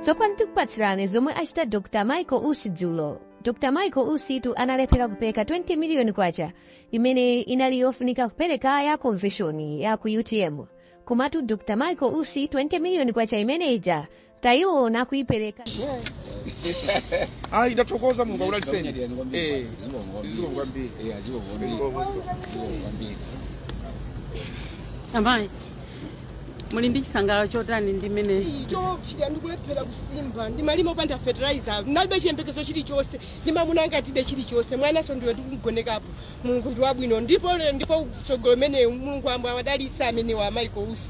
tsopano tikupatsirani zomwe achita dr michael usi dzulo dr michael usitu analephera kupereka 20 miliyoni kwacha imene inali yofunika kupereka ya konvenshoni ya ku utm komatu dr michael usi 20 miliyoni kwacha imene ija taiona akuipereka ayi ndathokoza mulungu akudaliseni Eh, zikomo kwambiri amayi muli ndi chisangalalo chotani ndi mmene choposa ndikulephera kusimba ndimalima opanda fertilizer ndinalibe chiyembekezo chilichonse ndi mamunanga tilibe chilichonse mwananso ndiwe ndikugonekapo mulungu ndi wabwino ndipo ndipo kutsogolo mene mulungu ambuye awadalise amenewa michael usi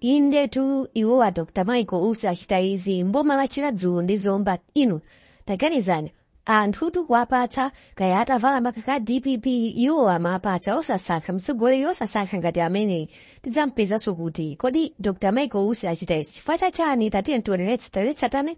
indetu iwo a dr michael usi achita izi mboma la chiradzulu ndi zomba inu taganizani anthutu kuwapatsa kaya atavala makaka a dpp iwo amapatsa osasankha mtsogoleri osasankha ngati ameneyi tidzampezanso kuti kodi dr michael usi achita izi chifukwa chachani tatiyeni tionere tsatanetsatane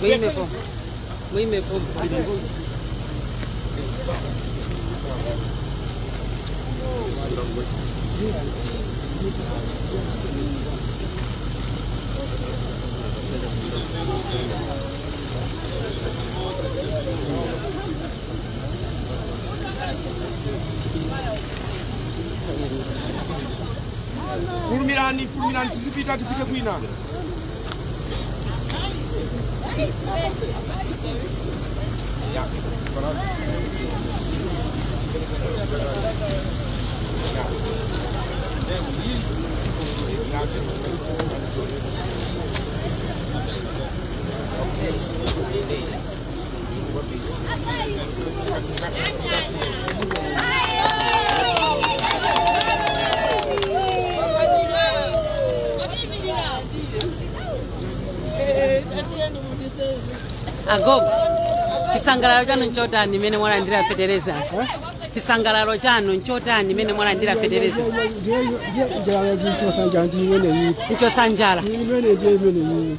Muime pompo. Muime pompo. Fulumirani, fulumirani, tizipita, tipite kwina. agogo chisangalalo chanu nchotani mmene mwalandira fetereza chisangalalo chanu nchotani mmene mwalandira fetereza njala yachichosa njanji imeneyi nchosanjala imene ndiye imeneyi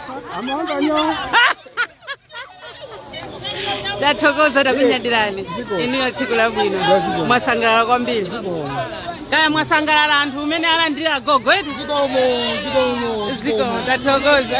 tathokoza takunyadirani inuyo tsiku labwino mwasangalala kwambiri kaya mwasangalala anthu mmene alandira gogo eti zikomo tathokoza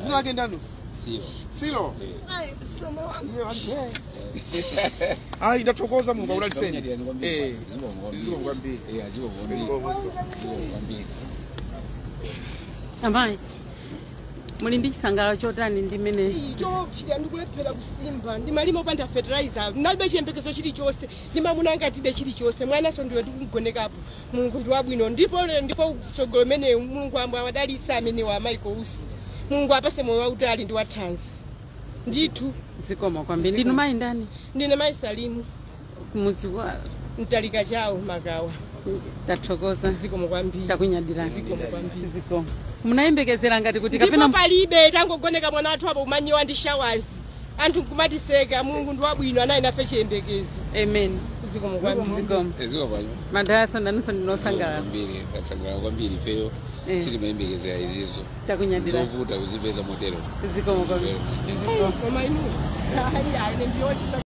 dzina lake ndani Silo. silo Ayi, msomo wangu. Iye ali- eh. ayi ndathokoza mulungu akudaliseni Eh, zikomo kwambiri. zikomo kwambiri. amayi muli ndi chisangalalo chotani ndi mmene choposa ndikulephera kusimba ndimalima opanda fertilizer ndalibe chiyembekezo chilichonse ndi mamunanga tilibe chilichonse mwananso ndiwe ndikugonekapo mulungu ndi wabwino ndipo ndipo utsogoleri umenewu mulungu ambe awadalitsa amenewa a michael usi mulungu apase moyo wautali ndi wathanzi ndithu zikomo kwambiri ndinu mayi ndani ndine mayi salimu kumudzi wa mtalika chawo magawa tathokoza zikomo kwambiri takunyadirani zikomo kwambiri zikomo munayembekezera ngati kuti ndipo kapena palibe timangooneka mwana wathu apo kumanyiwa ndi shawazi anthu nkumatiseka mulungu ndi wabwino anali nafe chiyembekezo amen zikomo kwambiri zikomo eziwa pano madalitso nanunso ndinu osangalala kwambiri tasangalala kwambiri ifeyo Eh. sitimayembekezera izizo takunyadira zovuta kuzipeza motero zikomo kwambiri koma inu ayi ayi ndiyoti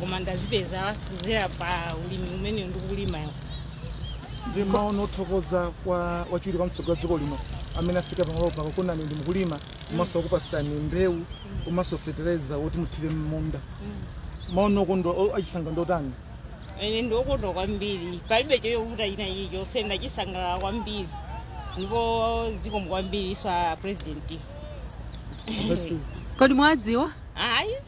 koma ndazipeza kuzera pa ulimi umene ndikulima ndi maono othokoza kwa wachiwiri kwa mtsogoleri wa wa dziko lino amene afika pamalo pako kuona mukulima komanso akupasani mbewu komanso fetereza woti muthire mmunda maono okondwa o- achisangalalo ndi otani ine ndiokondwa kwambiri palibe choyovuta china chilichonse ndachisangalala kwambiri ndipo zikomo kwambiri kwa president Vice President. kodi mwadziwa ayi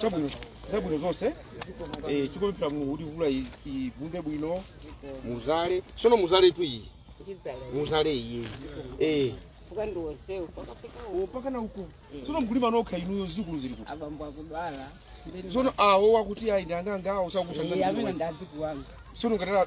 chabwino zabwino zonse eh, tikupemphera mulungu kuti mvula i- ivumbe bwino muzale sono muzaletu iyi muzale iyi eh. mpaka na uko sono mkulima nokha inuyo zikulu zili kuti abambo akudwala sono awo wakuti ayi ndanganga awo amene sakukusa ndazikuwanga sono ngatala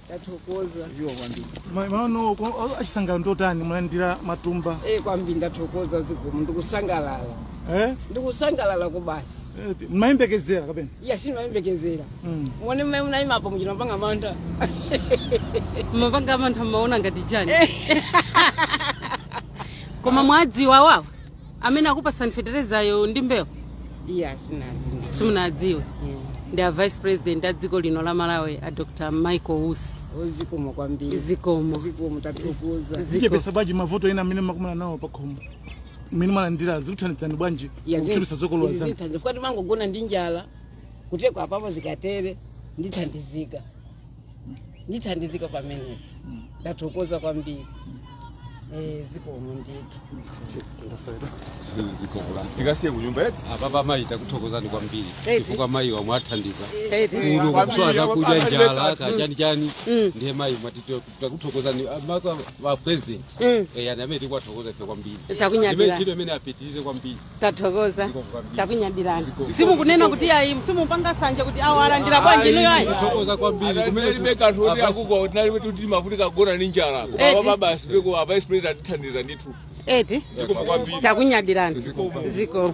Ndathokoza. Zikomo kwambiri. Ma- maono ko- o- achisangalalo ndotani mwalandira matumba Eh, kwambiri ndathokoza zikomo ndikusangalala. eh? Ndikusangalala kubasi. Eh, ti- mmayembekezera kapena Iya sindimayembekezera. Mm. Muone mmene munayima apo muchita mumapanga mantha. mumapanga mantha mmaona ngati chani koma mwadziwa wawa amene akupatsani feterezayo ndi mbewu iya sindinadziwe simunadziwe ndi a vice president a dziko lino la malawi a dr michael usi zikomo kwambiri zikomo zikomo tathokoza zichepesa bwanji mavuto ena amene mumakumana nawo pakhomo mmene mwalandira zikuthandizani bwanji kuchulutsa zokolola zanu zithandiza chifukwa timangogona ndi njala kutereku apapo zikatere ndithandizika ndithandizika pamenepo ndathokoza kwambiri Eh, zikomo ndithu tikasiye kunyumba yetu apapa mayi takuthokozani kwambiri chifukwa mayi amwathandiza kuno kusowa zakudya njala kachani chani ndiye mayi mwati takuthokozani mayi a president yani amene tikuwathokoza ife kwambiri Takunyadira. Imene ntchito imene apitirize kwambiri tathokoza Zikomo kwambiri. takunyadirani Zikomo. simukunena kuti ayi simupanga sanje kuti awo alandira bwanji inuyo ayi Tathokoza kwambiri kumene tinalibe kanthu oti akuko tinalibe kuti timafunika kugona ndi njala Eti. koma mabasi peko a vice president atithandiza ndithu eti zikomo kwambiri takunyadirani Zikomo. zikomo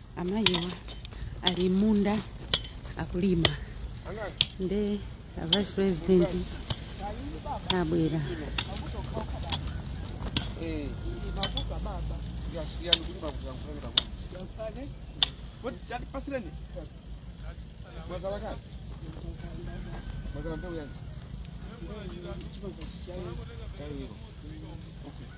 amayiwa ali m'munda akulima nde a vice president abwera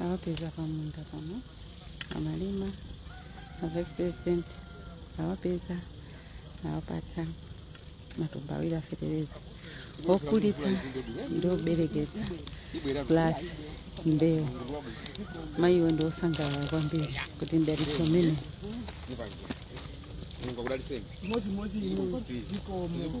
awapeza pamunda pano amalima a vice president awapeza awapatsa matumba awiri afetereza okulitsa ndi oberekesa plus mbewu mayiwo ndi osangalala kwambiri kuti mdalitso umene Mulungu akudalitseni. Zikomo.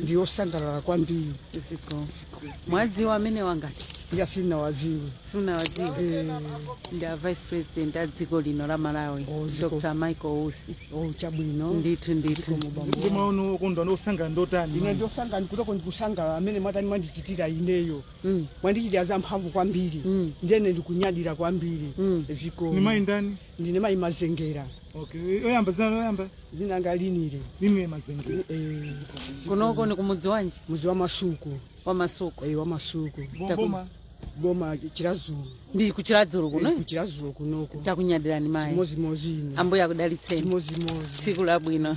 ndi osangalala kwambiri zikomo mwadziwa amene awa ngati ayi sindinawadziwe simunawadziwe Eh, ndi a vice president a dziko lino la malawi Oh, zikomo. dr michael usi oh, chabwino ndithu ndithu ndi maono okondwa ndi osangalala ndi otani ine ndosangalala kutoko ndikusangalala mmene mwatani mwandichitira ineyo Mm. mwandichitira zamphamvu kwambiri Mm. ndiye ine ndikunyadira kwambiri Mm. zikomo ni mayi ndani ndine mayi mazengera okay oyamba zina loyamba dzina langa Linile Linile mazengera eh, kunoko ni kumudzi wanji mudzi wa masuku wa masuku eh, wa masuku boma boma chiradzulu ndi kuchiradzulu kuno eh, chiradzulu kunoko takunyadirani mayi mozimozi ine ambuye akudalitseni mozimozi tsiku labwino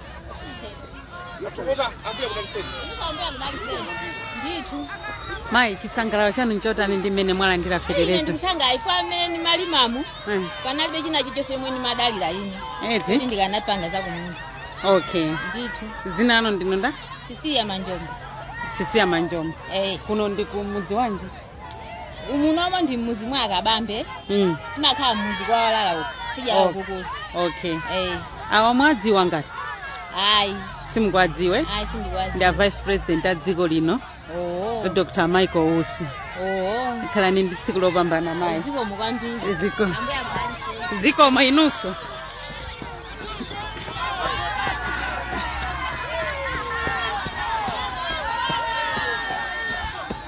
mayi chisangalalo chanu nchotani ndi mmene mwalandira ine fetereza ndikusangalala ife mmene ndimalimamu Eh, panalibe china chilichonse chomwe ndimadalira ine kuti eti ndikanapanga zakumunda okay ndithu dzina lanu ndinu ndani Sisiliya Manjombo Sisiliya Manjombo eh kuno ndi kumudzi wanji umunomo ndi mmudzi mwa a Kabambe mm. timakhala mmudzi kwa walala uko sija Oh. kukulu okay eh awa mwadziwa ngati ayi simukuwadziwa ayi sindikuwadziwa ndi a vice president a dziko lino oh dr michael usi oh khalani ndi tsiku lopambana mayi zikomo kwambiri zikomo ambuye akudalitseni zikomo inunso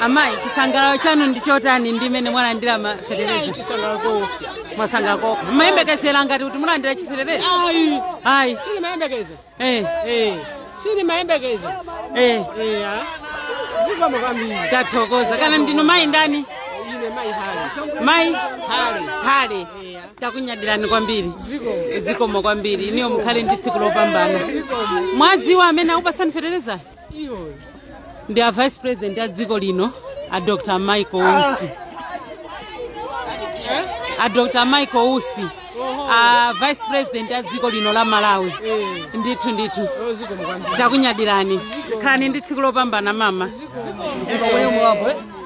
amayi chisangalalo chanu ndi chotani ndi mmene mwalandira mafetereza chisangalalo koopsa mwasangalala koopsa mmayembekezera ngati kuti mulandira chifetereza ayi ayi sindimayembekeza Eh, eh, sindimayembekeza eh, eya zikomo kwambiri tathokoza kaya ndinu mayi ndani ine mayi hali mayi hali hale eya takunyadirani kwambiri zikomo zikomo kwambiri inuyo mukhale ndi tsiku lopambana mwadziwa amene akupasani fetereza ndi a vice president a dziko lino a dr michael usi a dr michael usi a vice president a dziko lino la malawi ndithu ndithu takunyadirani khalani ndi tsiku lopambana mama Zikomo mwenye mwabwe.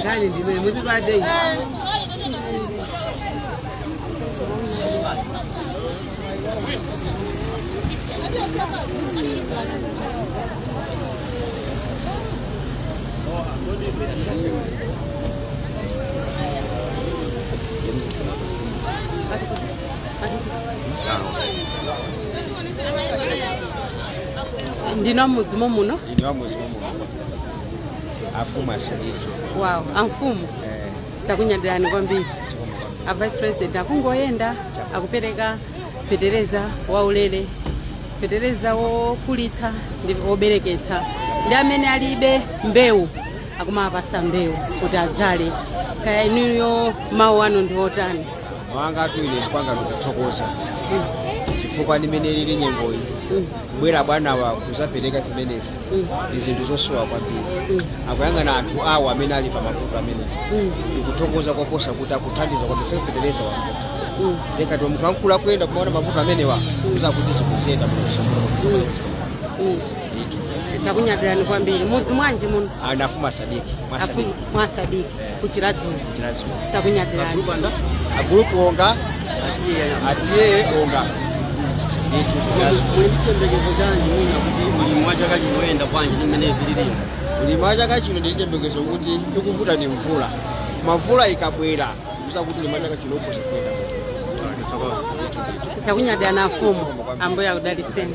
Ndani ndime muti bade. ndinu amudzi momuno ine wamudzi momuno afumu a sadiki wawo amfumu takunyadirani kwambiri a vice president akungoyenda akupereka fetereza waulere fetereza wokulitsa ndi wobereketsa ndi amene alibe mbewu akumapasa mbewu kuti adzale kaya inuyo mawu anu ndi otani mawu angatu ine kwanga ndikuthokoza chifukwa ndi mmene ilili nyengoyi kubwera bwanawa kuzapereka zimenezi ndi zinthu zosowa kwambiri akuyang'ana anthu awo amene ali pa mavuto amene ndikuthokoza koposa kuti akuthandiza kuti fetereza wavuta ndiye kuti munthu wamkulu akuyenda kumaona mavuto amenewa kuza kuti zikuziyenda munosomuro ndithu takunyadilani kwambiri mudzi mwanji muno ndi afumu sadiki mwasadiki Afu- mwasadiki ku chiradzulu ku chiradzulu takunyadilani a gulupu ndani a gulupu onga a t a onga muli chiyembekezo chanji mwina kuti ulimi wa chaka chino uyenda bwanji ndi mmene zililimu ulimi wa chaka chino ndi chiyembekezo kuti chikuvuta ndi mvula mvula ikabwera kuza kuti ulimi wa chaka chino ukhoza kuyenda takunyadilani afumu ambuye akudalitseni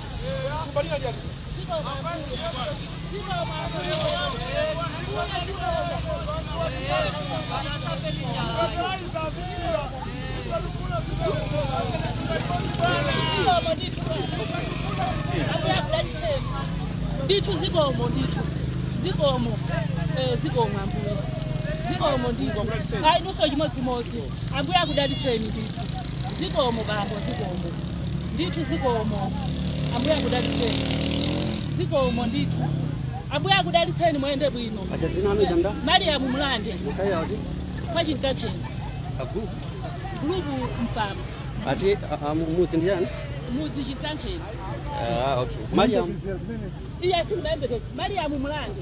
ndithu zikomo ndithu zikomo eh, zikomo ambuye zikomo ndithu ayi inunso chimodzimodzi Ambuye akudalitseni ndithu. Zikomo bambo, zikomo ndithu, zikomo. Ambuye akudalitseni, zikomo ndithu. Ambuye akudalitseni, mwende bwino. Acha dzina lanu changa? Mariamu Mulande Mukhala kuti? kwa Chinkakheni Agu. gulupu Mpama Ati a- a- mudzi ndi yani? mudzi Chinkakheni Ah, okay. Mariam. iye simayembekeza Mariamu Mulande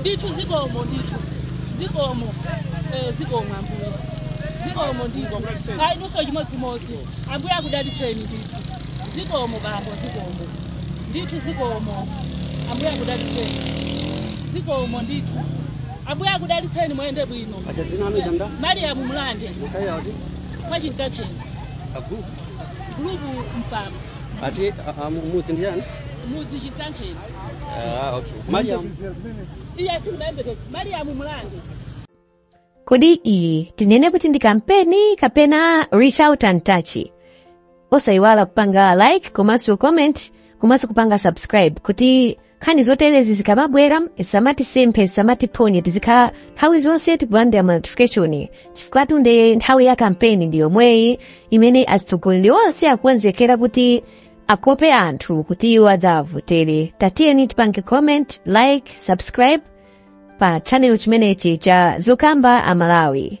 ndithu zikomo ndithu zikomo eh, zikomo ambuye zikomo ndithu ayi nuso chimodzimodzi ambuye akudalitseni ndithu Zikomo bambo, zikomo ndithu, zikomo. Ambuye akudalitseni, zikomo ndithu. Ambuye akudalitseni, mwende bwino. Acha dzina lanu changa? Mariamu Mulande Mukhala kuti? kwa Chinkakheni Agu. gulupu Mpama Ati a- a- mudzi ndi yani? mudzi Chinkakheni Ah, okay. Mariam. iye simayembekeza Mariamu Mulande kodi iyi tinene kuti ndi kampeni kapena reach out and touch osayiwala kupanga like komanso comment komanso kupanga subscribe kuti nkhani zoterezi zikamabwera zisamatisemphe zisamatiphonye tizikhala nthawi zonse tikulandira ma notification chifukwa tunde nthawi ya kampeni ndi yomweyi imene atsogoleri onse akukonzekera kuti akope anthu kuti iwo adzawavotere Ndiye tiyeni tipange comment like subscribe pa channel chimenechi cha zokamba amalawi